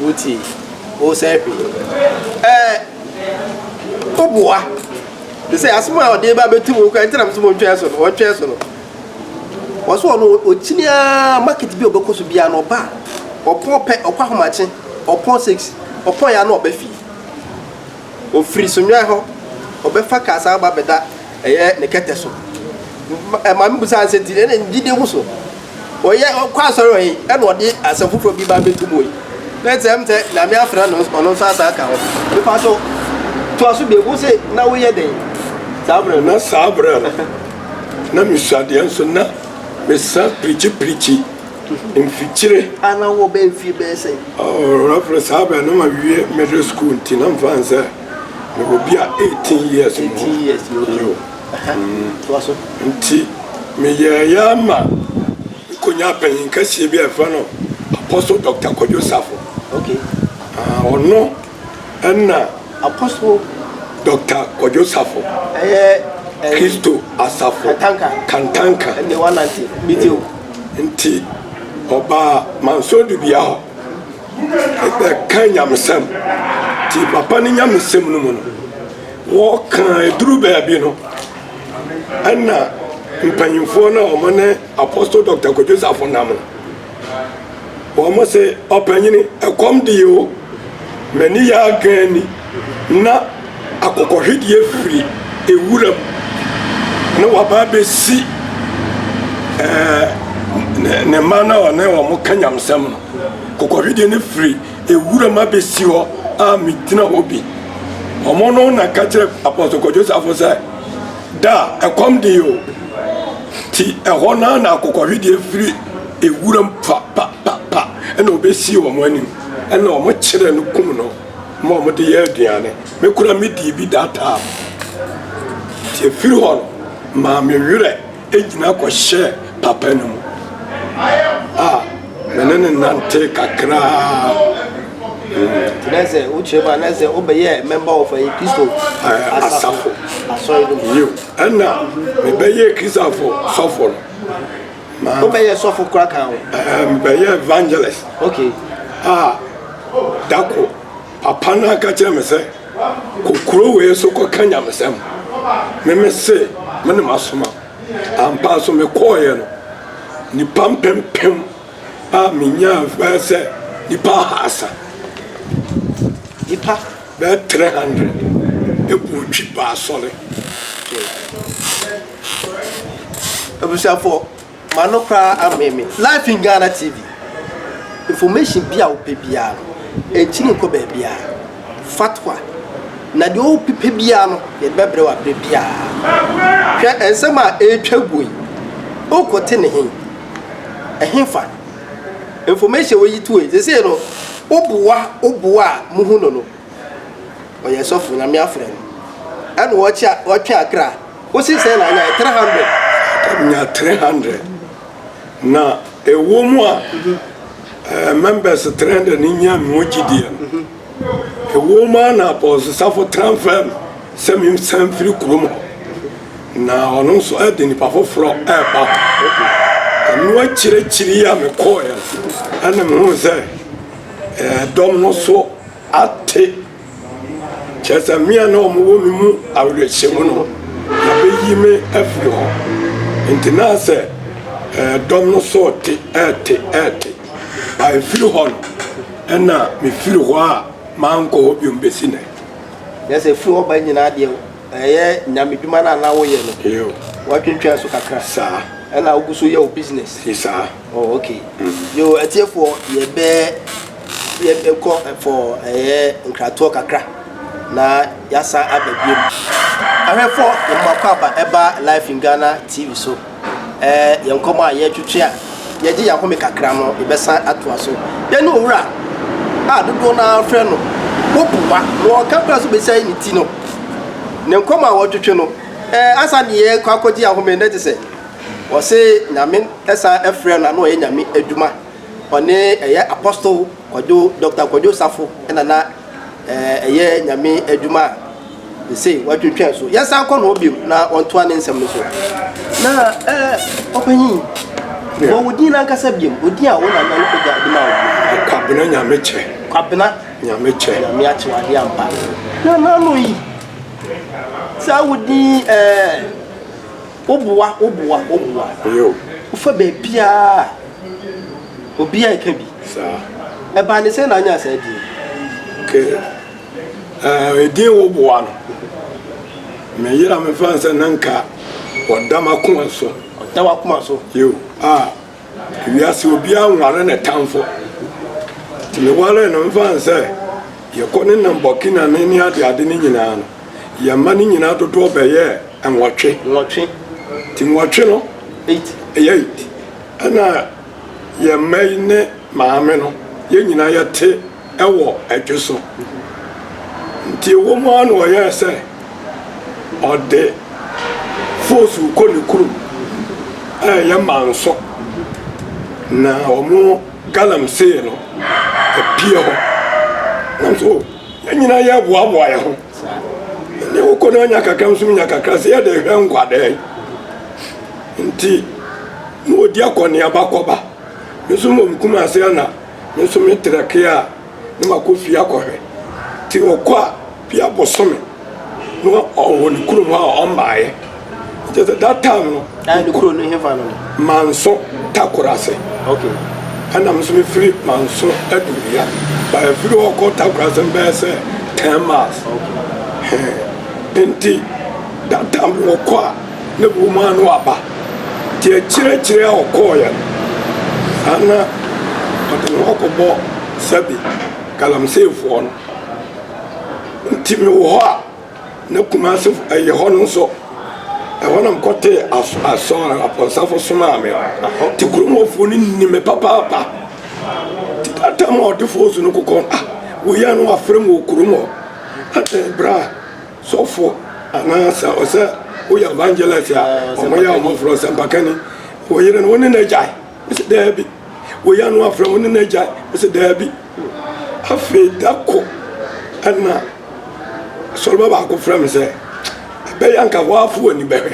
Wotie wo sɛ hwe. Ɛɛ woboa. Te sɛ asɛm a ɔde ba bɛtu mu kora nti na mesɛ wɔntwɛn so no, wɔntwɛn so no. Wɔso ɔno ɔkyini ara market bi a ɔbɛkɔ so biara no ɔba a, ɔpɔn pɛ, ɔkɔ ahomakye, ɔpɔn six, ɔpɔn yɛ a na ɔba fie. Ɔfiri Sonwai hɔ, ɔbɛfa kaa san ba bɛda ɛyɛ ne kɛtɛ so. Maame busaa no sɛ, nti ɛna ne gyidie gu so? Ɔyɛ ɔkɔ asɔre ɔyi ɛna ɔde asɛm foforɔ bi ba bɛtu mu yi. Na ɛsɛ ɛm sɛ Nyame afrɛ no ɔno nso asan aka ho. Mefa so toa so bie, wo se na woyɛ dɛn saa berɛ no? Na saa berɛ no, na mesuadeɛ nso na mesa pirikyi pirikyi. mfikyire. A na wowɔ bɛyɛ mfie bɛyɛ sɛn? Oh, Reverend, saa bɛn na mawie middle school nti na mfa n sɛ mewɔ bi a eighteen years mu hɔ. Eighteen years mu hɔ. Toa so. Nti meyɛɛyɛ ama mekonyaa panyin kɛseɛ bi a yɛfrɛ no Apostle Doctor Kwadwo Safo. Okay. Ah, ɔno. Nna Apostle Dɔkta Kwadwo Safo, Kristo Asafo Kantanka ntsi ɔbaa Mansoor Dubia hɔ bɛkã nyamesɛm. Ntsi papa ne nyamesɛm no mu no, wɔkãa edur beebi no, nna mpanyimfoɔ no a wɔne Apostle Dɔkta Kwadwo Safo nam no, Wɔn se, Ɔpanyini, ɛkɔm de yɛ o, m'ani yɛ agann ni, na akokɔhwedeɛ firi ewura mu, na waba abɛsi ɛɛ ne mma no a ɔne wɔn ka nyamsɛm no. Akokɔhwedeɛ no firi ewura mu abɛsi hɔ a megyina hɔ bi. Wɔn no na ka kyerɛ apɔsɔ kɔdwosafo sɛ. Da a ɛkɔm dee o, nti ɛhɔ no ara na akokɔhwedeɛ firi ewuram pa pa pa pa ɛna ɔbɛsii wɔn anim ɛna wɔn kyerɛ no kum no ma wɔn de yɛ aduane. Me kora me dii bi that time. Nti efiri hɔ no maa me werɛ ɛnyina kɔhyɛɛ papa no mu. Ah. Me ne no nantee kakraa. Nti na sɛ wokyerɛ mu a na sɛ wobɛyɛɛ member of ɛyɛ Kristo Ɛɛ, asafo. asɔre no mu. Yiw, ɛnna mebɛyɛɛ Kristofo sɔfo no. Ma Wobɛyɛɛ sɔfo koraa kan ho. ɛɛ, mebɛyɛɛ evangelist Okay. a da koro papa no ara ka kyerɛɛ me sɛ, Kɔ kurow wei so kɔka nyamesɛm. Me mese, Me na masoma wo. Ampa nso mekɔeɛ no, nnipa mpempem a menyaa bɛyɛ sɛ nnipa ahaasa, nnipa bɛyɛ 300 bɔɔ twi baa asɔre. Abusuafoɔ, m'ano koraa amee me. Live in Ghana TV, information bi a wopɛ biara no, ɛnkyini nkɔ baabiara. Fatwa, Na deɛ ɔrepi pɛ biara no, yɛde bɛbrɛ wo aberɛ biara. Hwɛ nsɛm a ɛretwa guo yi, wokɔte ne he? Ɛhefa? Information woyi to he? Sesei no, wo boa wo boa a mohu no no, ɔyɛ sɔfo, Nyame afrɛ no. Ɛna ɔtwe akra. Wose sɛn na anyaeɛ? 300. Nya 300. Na ɛwɔ mu a members trɛndɛ no nya mewɔ gyidie no, ɛwɔ mu a na abɔnsesafo tena mfɛɛ me sɛ mensan mfiri kurom hɔ, na ɔno nso ɛde nnipa foforɔ ɛreba hɔ. Ɛno akyirikyiri yi a mekɔeɛ no, ɛna mehuu sɛ dɔm no so ate. Kyerɛ sɛ me a na wɔwɔ me mu awerɛhyɛmu no, wɔabeyi me afiri hɔ. Enti na sɛ ɛdɔm no so te, ɛte, ɛte. A ɛfiri hɔ no, ɛna mefiri hɔ a mankɔ hɔ biom bɛsi nɛ. Kyerɛ sɛ firi hɔ ba nyinaa deɛ, ɛyɛ nyamedwuma no a na woyɛ no, woatwentwɛn so kakra. Saa. Ɛna wogu so yɛ wo business. Saa. Oh ok yoo atiefoɔ yɛbɛ yɛbɛ kɔ for ɛyɛ nkratoɔ kakra na yasan aba biom ahwɛfoɔ yɛn mako aba ɛba life in Ghana TV so ɛɛ yɛn nkɔmɔ a yɛtwetwe a yɛgye yɛn ahome kakra no yɛbɛsan atoa so yɛne owura a dodoɔ no ara frɛ no wopowa na ɔka kora so bɛsɛe ne ti no ne nkɔmɔ a wɔtwetwe no ɛɛ asa ne yɛkɔ akɔgye ahome na te sɛ Wɔse Nyame san frɛɛ no a na ɔyɛ Nyame adwuma. Ɔne ɛyɛ Apostle Kwadwo, Doctor Kwadwo Safo na na ɛyɛ Nyame adwuma a sesei watwentwɛn so. Yɛnsan kɔ ne hɔ bio na ɔntoa ne nsɛm no so. Na ɔpanyin, bɔ wo din no ankasa bio, wo din a wo nana no agya de maa wo bio. Kwabena Nyamekyɛ. Kwabena. Nyamekyɛ. Nyame akyɛ wo adeɛ ampa. Nana no yi, saa wo din ɛɛ. Wo boa, wo boa, wo boa. Wo fa baabiaa obiaa ɛka bi. Ɛbaa ne sɛn na anyaa saa din? Okay, ɛdin wo boa no. Me yera me fa nsɛ na nka ɔda m'akoma so. Ɔda w'akoma so? Yo, ah. Wiase obiara nware ne tamfo. Nti mewaree no mfa no sɛ yɛkɔ ne nam Burkina ne ne adeade no nyinaa no, yɛn mma no nyinaa dodoɔ bɛyɛɛ nwɔtwe. Nwɔtwe. Nti nwɔtwe no. Eight. Ɛyɛ eight. Ɛna yɛn mma yi ne maame no, yɛn nyinaa yɛte wɔ adwo so, nti ɛwom ara na ɔyɛɛ sɛ ɔde foosuo kɔ ne kurom a ɛyɛ manso, na wɔn galamsey no apue hɔ. Nanso yɛn nyinaa yɛboaboa yɛn ho. Ne wokɔ no anya kakra nso nya kakra sɛ yɛde hwɛ nkwadaa nti na ɔdi akɔneaba kɔba. Nso mmom kumase ana. Me nso me tra kee a na makɔ fie akɔhwɛ nti ɔkɔ a bia bosome na ɔwɔ ne kurom hɔ a ɔmmaeɛ kyɛ sɛ that time no manso takoro ase ɛna me nso mefiri manso aduria ba ɛfiri hɔ kɔ takoro ase mbɛyɛ sɛ 10 miles nti that time no ɔkɔ a ne bo maa no aba, te akyirɛkyirɛ a ɔkɔɔeɛ no, saa na ɔde ne ho akɔbɔ Sɛbe galamseefoɔ no. Nti me wɔ hɔ a, na Kumase yɛ hɔ no nso, ɛhɔ na mekɔtee aso asɔ apɔnsafo somaa me. Te kurom hɔfoɔ no nim me papaapa, te da tam a ɔdefoɔ su no kokɔ, ah, woyɛ no wafrɛ me wɔ kurom hɔ, adɛn bra? sɔfo anaa sɛ ɔsɛ woyɛ evangelist a ɔmo yɛ ɔmo frɛ ɔsɛmpakani wo yere no wo ne no agyae ɔsɛ daabi wo yɛ no afrɛ wo ne no agyae ɔsɛ daabi afei da ko ɛna sɔleba baako frɛ me sɛ ɛbɛyɛ nka hɔ afo ani bɛhwɛ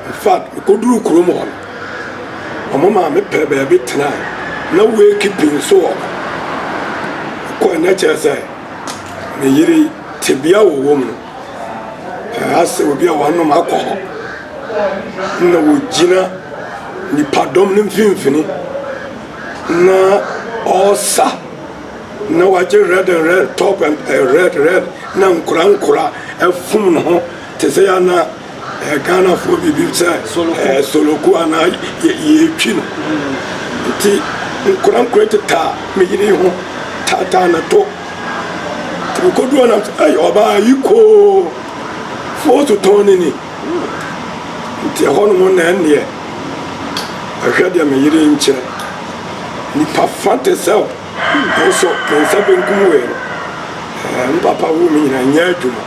In fact, mekoduruu kurom hɔ no, wɔn maa me pɛɛ baabi tenae. Na wake pii nso wɔ hɔ. Kɔe na kyerɛ sɛ me yere tebea a wɔwɔ mu no, anaasɛ obi a wɔanom akɔ hɔ na wɔgyina nipadɔm no mfimfini na ɔresa na wagye red and red top and eh, red red na nkora nkora afum ne ho Te sɛ yɛn na eh, Ghanafoɔ biribi sɛ eh, soloko anaa yɛtwi no nti nkorankora tetaa me yere ho taataa ne to nti mekɔduɔ nam sɛ ei ɔbaa yi koo foɔ so tɔn ne ni nti ɛhɔ nom na ɛnneɛ ɛhwɛ deɛ me yere nkyɛ nipa fa te sɛ Nanso me nsa benkum wei no, ɛɛ, me papa woo me nyinaa, nyɛ adwuma.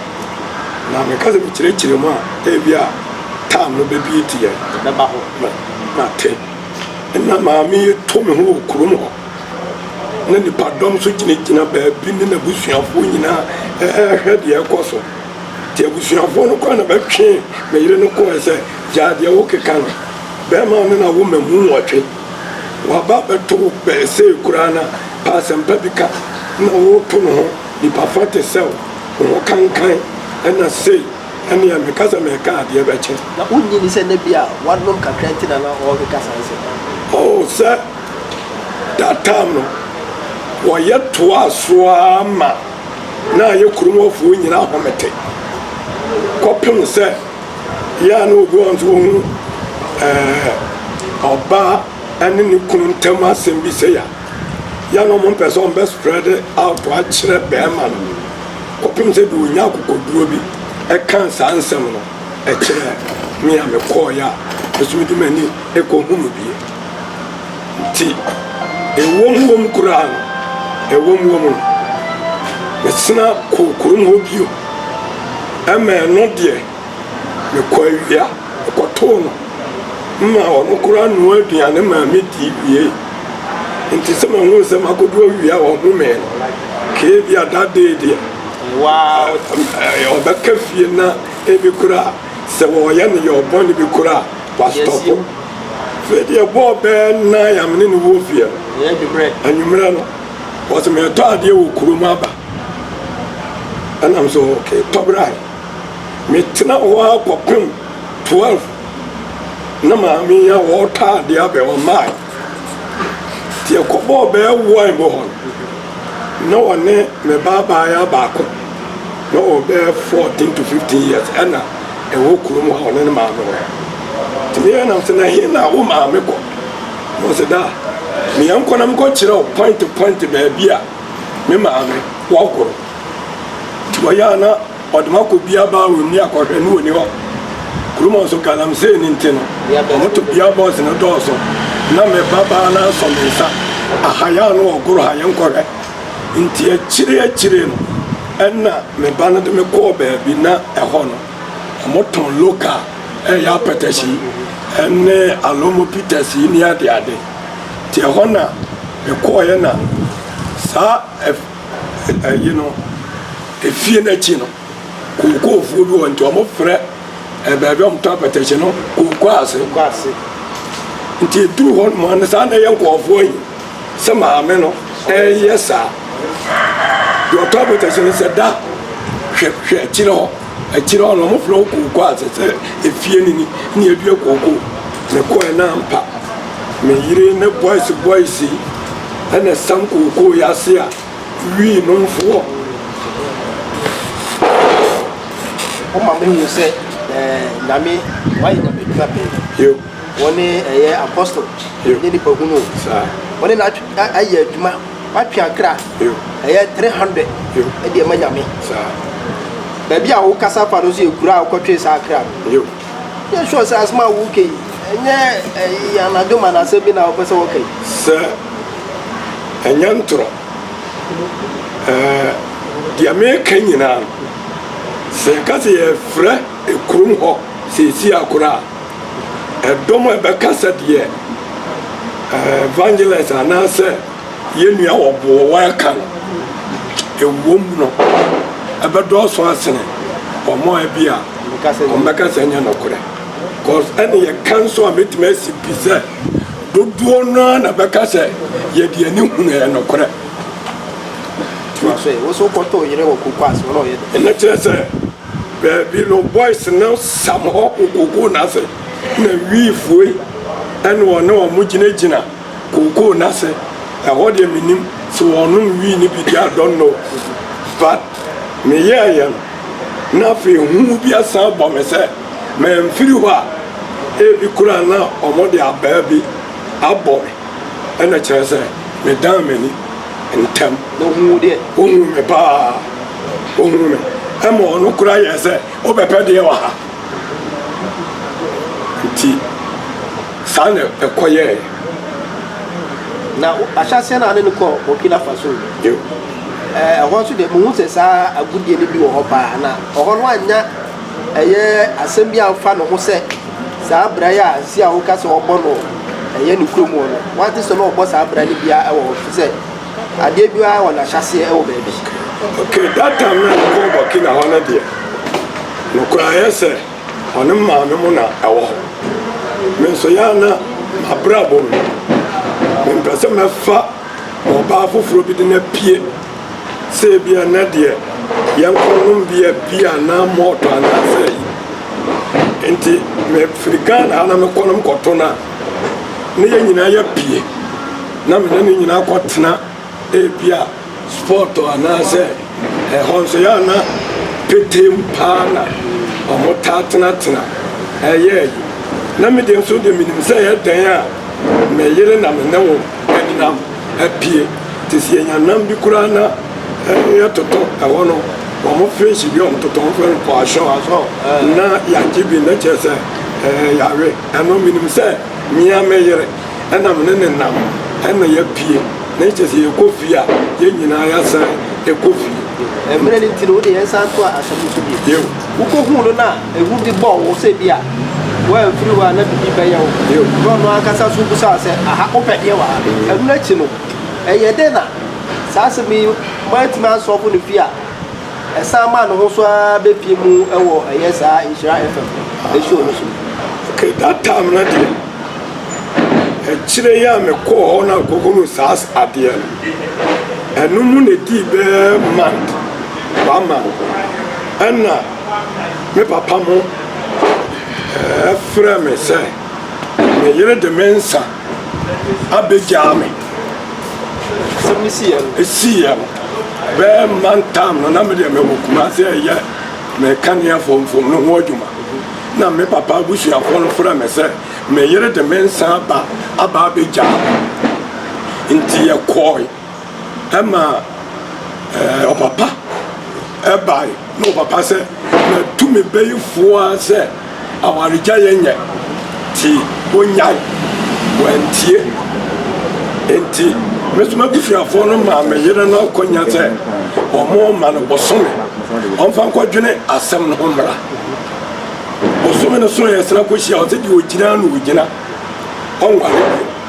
Na meka sɛ mekyerɛkyerɛ mu a, ebia tam no bɛbie nti yɛ. Ɛbɛba hɔ. Na, na te. Na maame yi to me ho wɔ kurom hɔ. Na nipadɔm nso gyinagyina baabi ne n'abusuafoɔ nyinaa ɛrehwɛ deɛ ɛkɔ so. Nti abusuafoɔ no kora na bɛtwee me yere no kɔɛ sɛ, gyaa deɛ wokeka no, bɛrima no na wo mmamu nwɔtwe. Waba bɛto wo bɛn sei koraa na pɛ asɛmpa bi ka na woreto no ho nipa fa te sɛw wo ho kankan ɛna sei ɛneɛ me kasa me reka adeɛ bɛkye. Na wonnye nni sɛ na bi a wanom kakra nti na na ɔrekeka saa nsɛm no? Oh sɛ that time no wɔyɛ toaa so ara ma na ayɛ kurom hɔfoɔ nyinaa ahomete kɔpem sɛ. yɛ a na obi wɔ hɔ nso ohunu ɛɛ ɔbaa ɛne ne kunu ntam asɛm bi sɛ ya yɛ na wɔn mpɛ sɛ wɔn bɛ spread out akyerɛ bɛrima no kɔpem sɛ de onya akokoduro bi ɛka saa nsɛm no ɛkyerɛ me a mekɔɔ yɛ a ɛsomidi m'ani ɛkɔ hunu bie. nti, ɛwom wom koraa no, ɛwom wom no, mesena kɔɔ kurom hɔ bio, ɛma ɛno deɛ, mekɔ awia kɔtoo no ma ɔno koraa noa aduane maa me dii wiei. Nti sɛ mahunu sɛ makodu awia a ɔhomee no, kee bi a that day deɛ, Wow. eh, eh, ɔbɛka fie na ebi koraa sɛ wɔyɛ no yɛ ɔbɔne bi koraa, Yes, wastɔpo. you- Freddy ɛbɔɔ bɛɛ nan a me ne no wɔ fie no anwummerɛ no wɔsɛ mɛtɔ adeɛ wɔ kurom aba ɛnam so okay tɔ brae metena hɔ a kɔpem 12 na maame yi a wɔretɔ adeɛ abɛ ɔmmae nti ɛkɔbɔɔ bɛɛ wɔn bɔ hɔ na wɔne me baabaa yɛ baako na wɔbɛɛ 14 to 15 years ɛna ɛwɔ kurom a ɔne ne maame wɔ. Nti me yɛnam se, na he na wo maame kɔ? Na ɔse, Daa, me yɛn kɔ na me kɔ kyerɛ wo pɔinte pɔinte baabi a me maame wɔ kɔ no. Nti ɔyɛ a na ɔde me akɔ Bia Baa wɔ mu ne akɔ hwɛ no ɔni hɔ. Kurom hɔ nso galamsey no nti no, ɔmo to Bia Boys no dɔɔso. Na me ba baa no asɔ me nsa, aha yɛ a na ɔgoro ha yɛn kɔ hwɛ. Nti akyire akyire no ɛna me ba no de me kɔɔ baabi na ɛhɔ no ɔmo tɔn local ɛyɛ apɛtɛs yi ɛne alomo pitas yi ne ade ade nti ɛhɔ na me kɔɔyɛ na saa ɛyi no efie no akyi no kookoofoɔ bi wɔ nti ɔmo frɛ ɛbaabi ɔmo tɔn apɛtɛs no kookoo ase nti eduru hɔ nom ano saa na ɛyɛ nkɔɔfoɔ yi Sɛ maame no reyɛ saa. Deɛ ɔtɔ abotase no sɛ da hwɛ hwɛ akyire hɔ akyire hɔ na wɔfrɛ wo kooko a sɛ sɛ efie no ni ne adua kooko mekɔɛ na ampa me yere ne boys boys yi ɛna ɛsam kooko yi ase a wii nomfoɔ wɔma mehu sɛ eh, nyame wayɛ nyame dwuma pɛɛ Wɔne ɛyɛ apostol ne nipa hunu o wɔne na ayɛ adwuma watwe akra ɛyɛ 300 ɛde ɛma nyame baabi a wokasa fa no nso yɛ kura a wokɔtwe saa akra no yɛ sure sɛ asɛm a woka yi ɛnyɛ ɛyɛ anadwo ma na asɛm bi na wopɛ sɛ wɔka yi sɛ ɛnyɛ ntorɔ deɛ meka nyinaa sɛ yɛka sɛ yɛfrɛ kurom hɔ sɛ ɛsi akora a Ɛdɔm a ɛbɛka sɛ deɛ evangelist anaasɛ yɛn nua wɔ boɔ wɔreka no ɛwom no ɛbɛdɔɔso asene wɔn a ebi a wɔbɛka sɛ ɛnyɛ nokorɛ cause ɛne yɛka nso a mɛtumi asi pi sɛ dodoɔ no ara na bɛka sɛ yɛde ani hunu ɛyɛ nokorɛ ɛna kyerɛ sɛ Baabi no boys no sam hɔ kokokoo no ase na wii fuei ɛna ɔne ɔmo gyina gyina kokoo no ase ɛhɔ deɛ menim sɛ ɔnom wii no bi deɛ I don't know but me yɛɛyɛ no na afei hu bi asan bɔ me sɛ manfiri hɔ a ebi koraa na ɔmo de abaa bi abɔ me ɛna kyerɛ sɛ me dan m'ani ntɛm na ɔhuu me paa. Ohun me. Ɛma ɔno koraa yɛ sɛ wobɛpɛ deɛ wɔ ha. Nti saa na ɛkɔ yɛɛ. Na ahyɛ aseɛ na ne no kɔ Burkina Faso. Yo. Ɛɛ ɛhɔ nso deɛ mehu sɛ saa agodie no bi wɔ hɔ paa na ɔhɔ no annya ɛyɛ asɛm bi amfa ne ho sɛ saa bra yi a si a woka sɛ ɔbɔ no ɛyɛ ne kurom hɔ no wante sɛ na ɔbɔ saa bra no biara ɛwɔ hɔ fi sɛ Adeɛ biara wɔ n'ahyɛaseɛ wɔ baabi. Ok, that time na yɛkɔɔ Burkina hɔ no deɛ, nokorɛ ayɛ sɛ ɔne maame mo na ɛwɔ hɔ. Me nso yɛ a na m'abrabɔ mu no, mempɛ sɛ mɛfa ɔbaa foforɔ bi de no apue. Sɛ ebia ɛnnɛ deɛ yɛnkɔnom bia bi anaa malt anaa sɛ ayi. Enti mefiri Ghana ha na mekɔnom kɔto no a, ne yɛn nyinaa yɛpie na mene ne nyinaa kɔtena ebi a sport anaasɛ ɛhɔ nso yɛ ana petem paa na wɔn taa tenatena ɛyɛ yi na me deɛ nso deɛ menim sɛ yɛ dɛn a me yere na me ne wo ɛdenam apie te sɛ yɛnya nam bi koraa na yɛtoto ɛhɔ no wɔn fish bi wɔn toto wɔn fɛn kɔ ahyɛ wɔn asɔ na yɛagye bi na kyerɛ sɛ ɛɛ yare. Ɛno menim sɛ me ara me yere na me ne no nam na yɛapue, na kyerɛ sɛ yɛkɔ fie a, yɛn nyinaa yɛasan kɔ fie. Mmerɛ no nti no, wo deɛ yɛnsan toa asɛm no so bio. Wokɔhuu no na ehu bi bɔɔ wo sɛ ebia woamfiri hɔ a na biribi bɛyɛ wo, na ɔno ankasa nso bisaa wo sɛ, Aha, wopɛ deɛ wɔ ha? Ɛno akyi no, ɛyɛɛ dɛn na saa asɛm yi moantumi ansɔlvo no fie a? Ɛsan maa ne ho so ara bɛpie mu wɔ Ɛyɛ Saa Nhyira FM show no so. Okay, that time no deɛ, akyire yi a mekɔɔ hɔ na kɔhunu saa adeɛ no, ɛno mu na ɛdii bɛɛ month, one month, ɛna me papa mo ɛfrɛɛ me sɛ me yere de me nsa abɛgyaa me asɛm no siiɛ no ɛsiiɛ no bɛɛ mma ntam no na medeɛ mewɔ kuma sɛ ɛyɛ mekanea fomfom no ho adwuma na me papa abusuafoɔ no frɛ me sɛ me yere de me nsa aba aba abɛgyaa nti yɛkɔe ɛma ɛɛ ɔpapa ɛbae na ɔpapa sɛ mɛtu me bɛyifoɔ a sɛ awaregya yɛ nyɛ ti onyae wɔantie nti mesoma busuafoɔ no maa me yere no akɔnya sɛ ɔmo ma no bosome ɔmfa nkɔdwene asɛm no ho mmara bosome no so yɛ sena kɔhyia ɔsɛ deɛ ɔgyina na ɔgyina ɔnware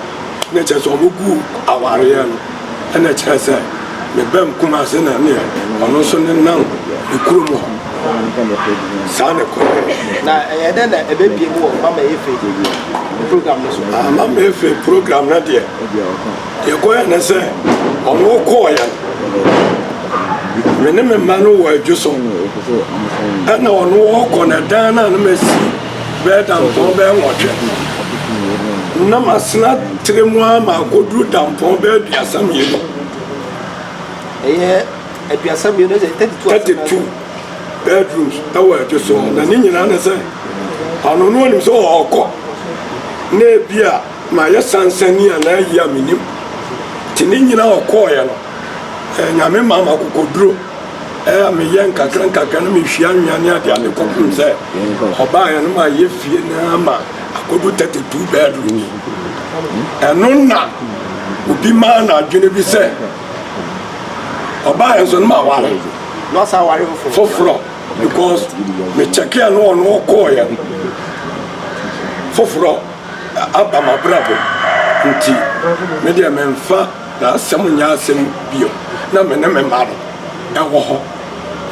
Na kyerɛ sɛ ɔbɛgu awareɛ no ɛna kyerɛ sɛ ne ba mu Kumase na neɛ ɔno nso ne nam ne kurom hɔ saa ne kɔ. Na ɛyɛ dɛ na ɛbɛbie mu wɔ Mama Efe program no so. Ah, Mama Efe program no deɛ deɛ kɔyɛ ne sɛ ɔno kɔɔyɛ no me ne me mma no wɔ adwo so ɛna ɔno ɔkɔ na dan no a na masi Bɛyɛ dampɔn bɛyɛ nwɔtwe. Na masena tire mu ara ma akɔduru dampɔn bɛyɛ aduasa mmienu. Ɛyɛ aduasa mmienu sɛ thirty two. Thirty two bedrooms ɛwɔ ɛdwo so na ne nyinaa ne sɛ ɔno no onim sɛ ɔɔkɔ na ebi a mayɛ sansani anaa ayi a menim nti ne nyinaa ɔkɔɔyɛ no. Ɛɛ Nyame maa me akokoduro ɛɛ a meyɛ nkakra nkakra no mehwie anwea ne adeɛ a mekɔhunu sɛ ɔbaa yɛn no ma yɛ fie no ama akɔdu 32 bedrooms ɛno na obi maa no adwene bi sɛ ɔbaa yɛn so no ma ware foforɔ because mekyɛkeɛ no ɔno ɔkɔɔyɛ foforɔ aba mabrabɔ nti medeɛ memfa Na asɛm nyɛ asɛm bio. Na me ne me mma no wɔ hɔ.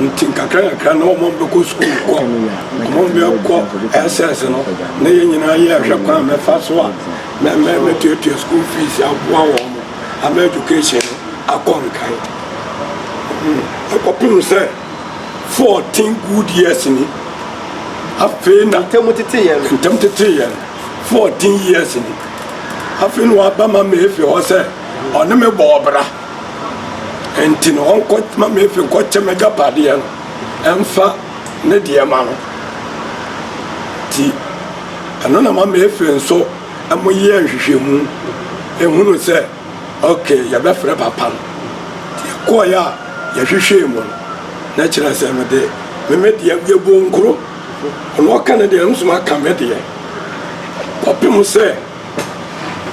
Nti nkakrankakra na wɔn bɛkɔ sukuu kɔ, wɔn bɛkɔ SS no, na yɛn nyinaa yɛrehwɛ kwan mɛfa so a mɛ mɛ mɛtuatua school fees aboa wɔn ama education no akɔ nkan. Hmm, ɛkɔpem sɛ fourteen good years ni. Afei na. Ntam tetee yɛn. Ntam tetee yɛn. fourteen years ni. Afei na waba Mama Efe hɔ sɛ ɔne me bɔ ɔbra. Nti no ɔnkɔ Mama Efe nkɔkyɛ m'agyapadeɛ no ɛmfa ne deɛ ma no. Nti ɛno na Mama Efe nso ɛmo yɛ nhwehwɛmu ehunu sɛ okay yɛbɛfrɛ papa no. Nti yɛkɔɔeɛ a yɛhwehwɛɛ mu no na kyerɛ sɛ mede me me deɛ yɛbɔ nkuro. Ɔno ɔka ne deɛ, nso maka me deɛ. Kɔpem sɛ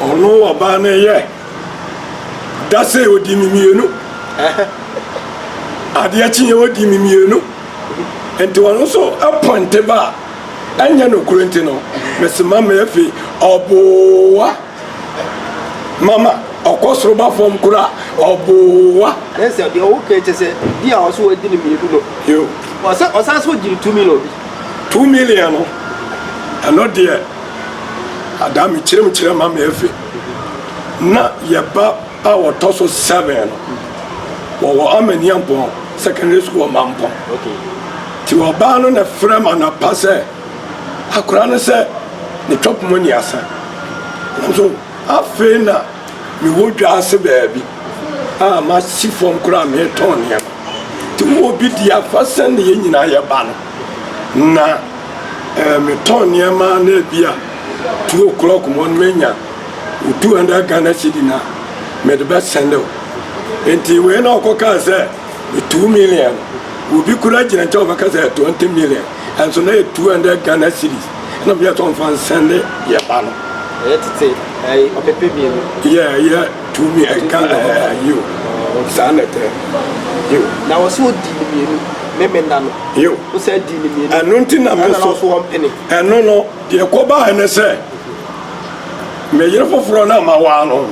ɔno ɔbaa no yɛ da sɛ ɔdi me mmienu. Adeɛ kyeɛ ɔdi me mmienu. Nti ɔno nso pɔnte ba a, ɛnyɛ nokorɛ nti no, mesoma me afei ɔboa. Mama ɔkɔ soro ba fam koraa ɔboa. Ɛyɛ sɛ deɛ ɔwɔ kɛn kyɛ sɛ di a ɔso adi ne mmienu no. Yo. Ɔsɛ ɔsan so gyiri two million bi. Two million no ɛno deɛ adaa mi kyerɛm kyerɛ ma mi efe na yɛ ba a ɔtɔ so seven no wɔwɔ amaniampɔn secondary school wɔ mampɔn ti ɔbaa no na frɛ ma na pa sɛ. Akora no sɛ ne twɔp mu nneasa. Nanso afei na mewɔ dwa ase baabi a masi fam koraa meretɔn nneɛma. Nti wowɔ bi di afa sɛnea yɛn nyinaa yɛba no. Na eh, metɔn nneɛma na ebi a two o'clock mu no menya wo two hundred Ghana cedi na mede bɛsɛnde wo. Nti wei na ɔkɔkaa sɛ two million. Obi koraa gyina nkyɛn ɔbɛka sɛ twenty million. Ɛnso na yɛ 200 Ghana cedis na ɔmo yɛ tɔn fa nsɛnde yɛ ba no. Ɛyɛ tete ɛyi ɔpepe mienu. Yɛ ɛyɛ two mi ɛka ɛɛ yiw saa na ɛtɛ yiw. Na wɔsi wɔ di ni mienu me me nna no. Yiw. Wosɛ di ni mienu. Ɛno nti na me nso. Ɛna wɔn pene. Ɛno no deɛ ɛkɔ baa ɛne sɛ me yere foforɔ na ma waa no.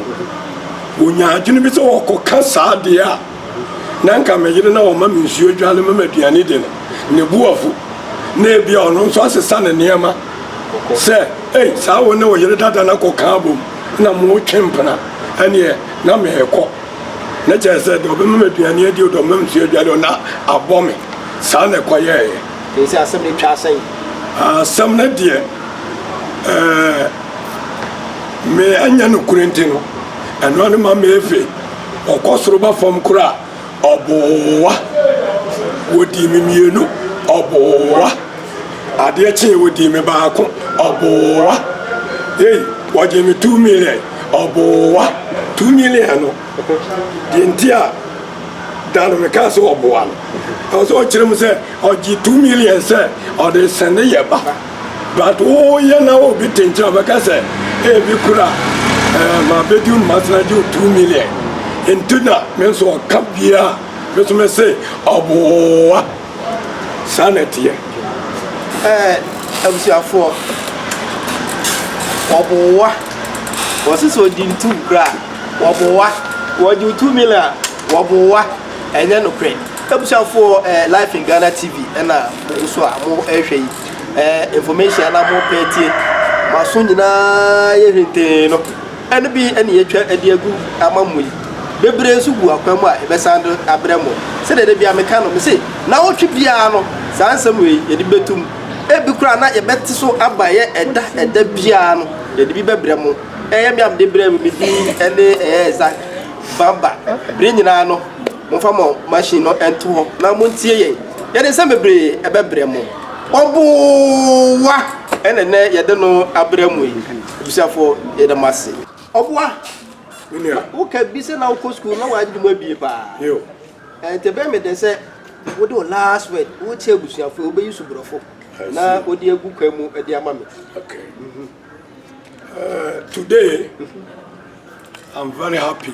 Wonyaa adwene bi sɛ wɔkɔ ka saa deɛ a. na nka me yere na ɔma me nsuo adwane ma m'aduane di no ne bo afu na ebia ɔno nso asesa ne nneɛma sɛ ei saa wo ne wo yere dada no akɔka abom na motwe mpena ɛneɛ na meekɔ na kyerɛ sɛ deɛ ɔbɛma me aduane adi o deɛ ɔbɛma me nsuo adwane o na abɔ me saa na ɛkɔyɛeɛ ɛsɛ asɛm no twa asɛn asɛm no deɛ ɛɛ me anyɛ no kuro nti no ɛno ano ma meefe ɔkɔ soro ba fam koraa ɔboa wɔdii me mmienu ɔboa adeɛ kyee wɔdii me baako ɔboa ei wɔgye me two million ɔboa two million no deɛ nti a da no mekaa sɛ ɔboa no ɛwɔ sɛ ɔkyerɛ mu sɛ ɔgye two million sɛ ɔde sɛne yɛ ba But wo yɛ na wo bi te nkyɛn a ɔbɛka sɛ ee me kura ɛɛ ma bedi wo ma sena gye wo two million nti na me nso ɔka bia me nso me se ɔboa saa na ɛteɛ. Ɛɛ abusuafoɔ ɔboa wɔse sɛ ɔdi ntum kura a ɔboa wɔgye wo two million a ɔboa ɛnyɛ nokorɛ abusuafoɔ ɛɛ life in Ghana TV ɛna mogu so a mo ɛɛhwɛ yi. ɛɛ information anaa mo pɛ tie mo aso nyinaa yɛ hwetee no ɛno bi ɛne yɛtwa ɛde agu ama mo yi bebree nso gu akwan mu a ɛbɛsan do abrɛ mo sɛdeɛ de bia meka no mese na wotwe biara no saa nsɛm wei yɛde bɛtum ebi koraa na yɛbɛte so aba yɛ ɛda ɛda biara no yɛde bi bɛbrɛ mo ɛyɛ me amde brɛ me medin ɛne ɛyɛ ɛza baba bere nyinaa no Momfa mo machine no nto hɔ na montie yɛn. Yɛde nsɛm bebree bɛbrɛ mo. Ɔboa ɛna nɛ yɛde no abrɛ mo yi. Abusuafo yɛde mo ase. Ɔboa. Menua. Woka bi sɛ na wokɔ school na wɔagye mu abie paa. Yo. Ɛnti ɛbɛyɛ me den sɛ wode wo last word wokyɛ abusuafo wobɛyi so borɔfo na wode agu kwan mu de ama me. Okay. Mm -hmm. uh, today I'm very happy.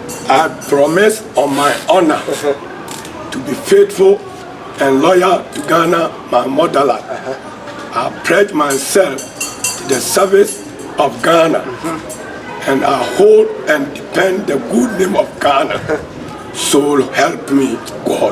I promise on my honour to be faithful and loyal to Ghana my motherland I pledge myself to the service of Ghana and I hold and defend the good name of Ghana so help me God.